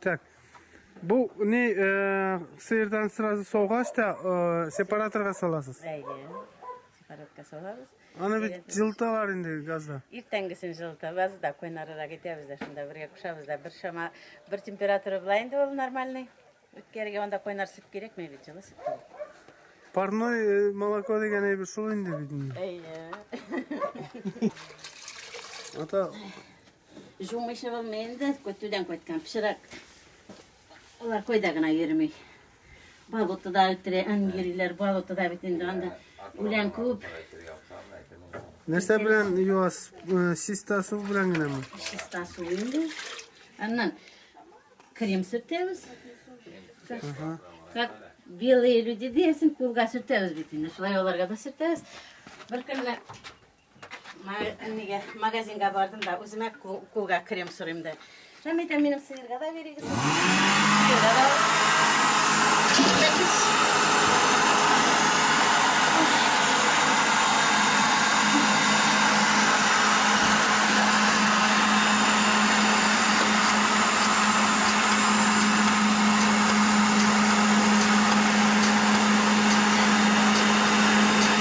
Так. Бу не э, сыердан сразу саугач та э, сепараторга саласыз. Әйе. Сепаратка салабыз. Аны бит жылталар инде газда. Иртәнгесен жылытабыз да койнарырак итәбез дә шунда бергә кушабыз да бер шама бер температура була инде ул нормальный. Үткәргә анда койнар сөт кирәкми бит жылы сөт. Парной э, молоко дигән әйбер шул инде бит. Әйе. Ата Җумый чыгылмый инде, көтүдән кайткан пычрак. Алар койда гына йөрми. Болотода үтерә, ан йөриләр, болотода бит инде анда үлән күп. Нәрсә белән юас? Э, чиста су белән генәме? Чиста су инде. Аннан крем сөртәбез. Ага. Как белые люди диясен, кулга сөртәбез бит инде. Шулай аларга да сөртәбез. Бер көнне Нигә магазинга бардым да үземә кулга крем сорыйм да. Һәм әйтә минем сыерга да бирегез. Сыерга да.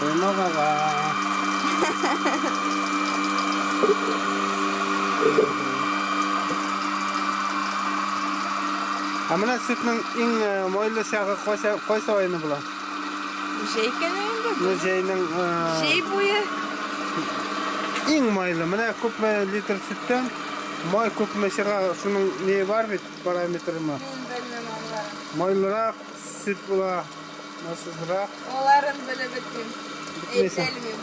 Койма баба. Ә менә сөтнең иң э, майлы чагы кайсы кайсы айны була? Җәй көне инде. Ну җәйнең э, Җәй буе. иң майлы. Менә күпме литр сөттән Май күпме чыга, шуның нее бар бит, параметры ма? Мин белмим анларын. Майлырак, сөт була, майсызрак. Аларын белеп бетмим. Бетмейсең. Әйтелмим.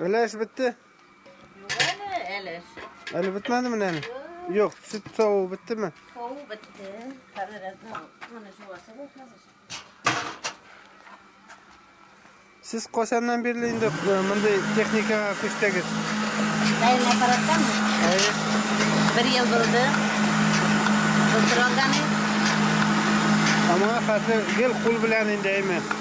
Өләш бетте. Әле. Әле бетмәде менә әле. Юк, сөт саву беттеме? Саву бетте. Хәзер моны жуасы бу хәзер. Сез кайчаннан бирле инде мондый техникага күчтегез? Әйе, аппараттан. Әйе. Бер ел булды. Тутырганы. Ама хәзер гел кул белән инде, әйме?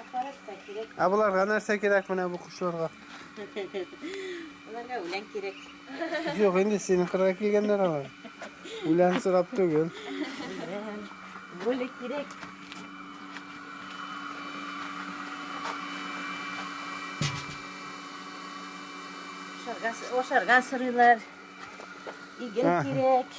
Аппарат та кирәк. Ә боларга нәрсә кирәк менә бу кошларга? Аларга үлән кирәк. Юк, инде синең кырга килгәннәр алар. Үлән сорап түгел. Бүле кирәк. Ашарга сырыйлар. Иген кирәк.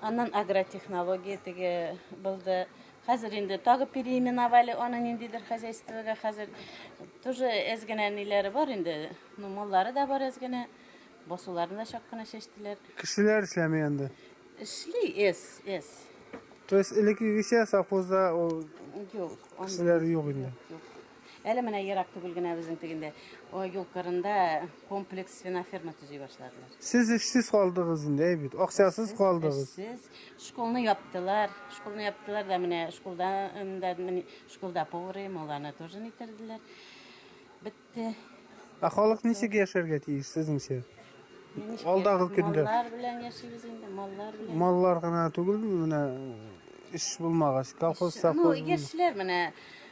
Аннан агротехнология теге булды. Хәзер инде тагы переименовали аны ниндидер хозяйствога. Хәзер тоже әз генә ниләре бар инде. Ну, маллары да бар әз генә. Басуларны да чак кына чәчтеләр. Кешеләр эшләми анда. Эшли эс, эс. То есть элеккегечә совхозда ул Юк, анда кешеләр юк инде. юк. Әле менә ерак түгел генә безнең тегендә юл кырында комплекс свиноферма төзи башладылар. Сез эшсез калдыгыз инде, әй бит, акчасыз калдыгыз. Эшсез, школны яптылар. Школны яптылар да менә школда да школда поварым, ул аны тоже нитерделәр. Бетте. Ә халык ничек яшәргә тиеш сезнеңчә? Алдагы көндә. Маллар белән яшибез инде, маллар белән. Маллар гына түгел, менә эш булмагач, колхоз, совхоз. Ну, яшьләр менә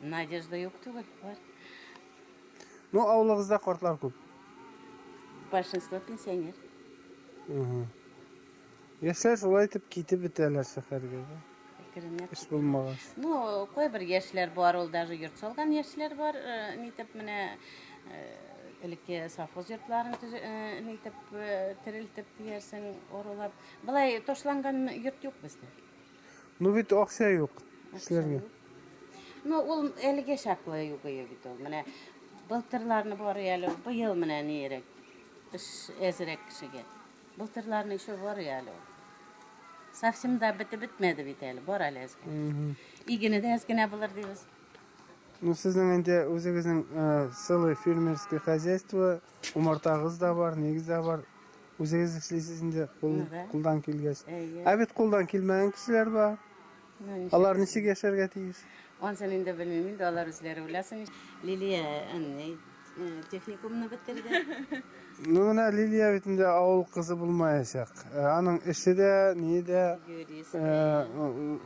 Надежда юк түгел, бар. Ну, авылыгызда картлар күп. Большинство пенсионер. Яшьләр шулай итеп китеп бетәләр шәһәргә. Керенә. Эш булмагач. Ну, кайбер яшьләр бар, ул даже йорт салган яшьләр бар, э, нитеп менә э, элекке совхоз йортларын төзе- э, нитеп э, терелтеп диярсең, орулап. Былай ташланган йорт юк бездә. Ну бит акча юк эшләргә. Ну ул әлегә чаклы югые бит ул. Менә былтырларны бар әле, быел менә нирәк. Эш әзрәк кешегә. Былтырларны еще бар әле. Совсем да бетеп бетмәде бит әле, бар әле әзгә. Игене дә әзгенә булыр дибез. Ну сезнең инде үзегезнең э, сылы фермерское хозяйство Умартагыз да бар, нигез дә бар. Үзегез эшлисез инде кул, кулдан килгәч. Ә бит кулдан килмәгән кешеләр бар. Алар ничек яшәргә тиеш? Ансын инде белмим инде, алар үзләре беләсен. Лилия әни техникумны бетерде. Ну менә Лилия бит инде авыл кызы булмаячак. Аның эше дә, ни дә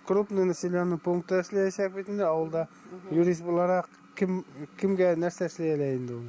крупный населенный пунктта эшләячәк бит инде авылда юрист буларак кем кемгә нәрсә эшли әле инде ул?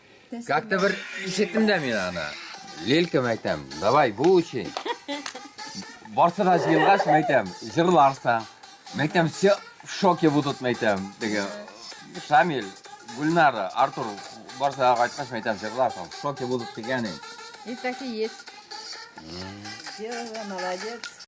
Как-то бер ишеттем дә мин аны. Лелькам әйтәм, давай бу өчен. Барсы да җыелгач, мәйтәм, җырларсың. Мәйтәм, все в шоке будут, мәйтәм. Теге Шамил, Гульнара, Артур, барсы да кайткач, мәйтәм, җырларсың. В шоке будут дигән инде. И так и есть. Серега, молодец.